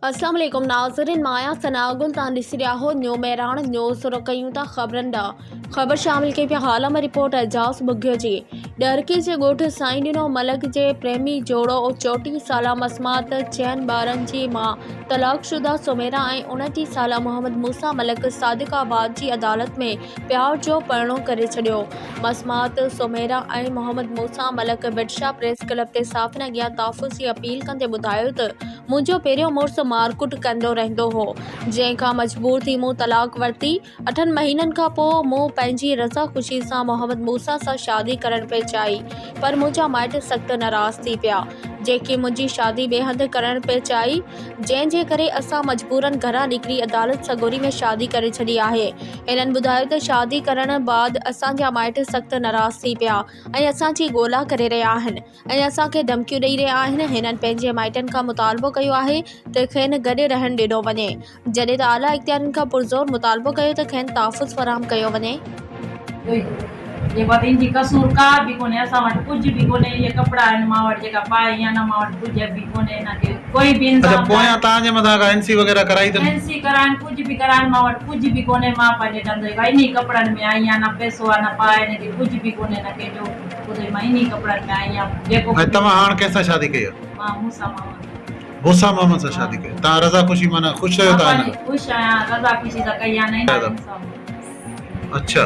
اسلام عليڪم ناظرين مان آهيان ثناء گل توهان ڏسي رهيا آهو نيو مهراڻ نيوز شروع ڪيون ٿا خبرن ڏانهن خبر شامل ڪئي پيا حال ۾ رپورٽ اعجاز ٻگهيو جي ڏهرڪي جي ڳوٺ سائين ڏنو ملڪ جي پريمي جوڙو چوٽيهه سالا مسمات چئن ٻارن جي ماء طلاق شده سميرا ۽ انٽيهه سالا محمد موسيٰ ملڪ صادق آباد جي عدالت ۾ پيار جو پرڻو ڪري ڇڏيو مسمات سميرا ۽ محمد موسيٰ ملڪ بٽشاهه پريس ڪلب تي صحافين اڳيان تحفظ جي اپيل ڪندي ٻڌايو ته منهنجو پهريون مڙس مارڪٽ ڪندو رهندو هو، جنهن کان مجبور ٿي مون طلاق ورتي. اٺن مهينن کان پوء مون پنهنجي رضا خوشي سان محمد موسيٰ سان شادي ڪرڻ پئي چاهي، پر منهنجا مائٽ سخت ناراض ٿي پيا، جنهن کي منهنجي شادي ٻئي هنڌ ڪرڻ پئي چاهي، جنهن جي ڪري اسان مجبورن گهران نڪري عدالت سڳوري ۾ شادي ڪري ڇڏي آهي. هنن ٻڌايو ته شادي ڪرڻ بعد اسان جا مائٽ سخت ناراض ٿي پيا ۽ اسان جي ڳولا ڪري رهيا آهن. ۽ اسان کي ڌمڪيون ڏئي رهيا آهن هنن پنهنجي مائٽن کان مطالبو ڪيو آهي ته کين گڏ رهڻ ڏنو وڃي جڏهن ته اعليٰ اختيارين کان پرزور مطالبو ڪيو ته کين تحفظ فراهم ڪيو وڃي. ۽ توهان هاڻ ڪنهن سان شادي ڪئي آهي؟ موسيٰ محمد سان شادي ڪئي آهي. توهان رضا خوشي معنيٰ خوش رهيو ٿا هن اڇا.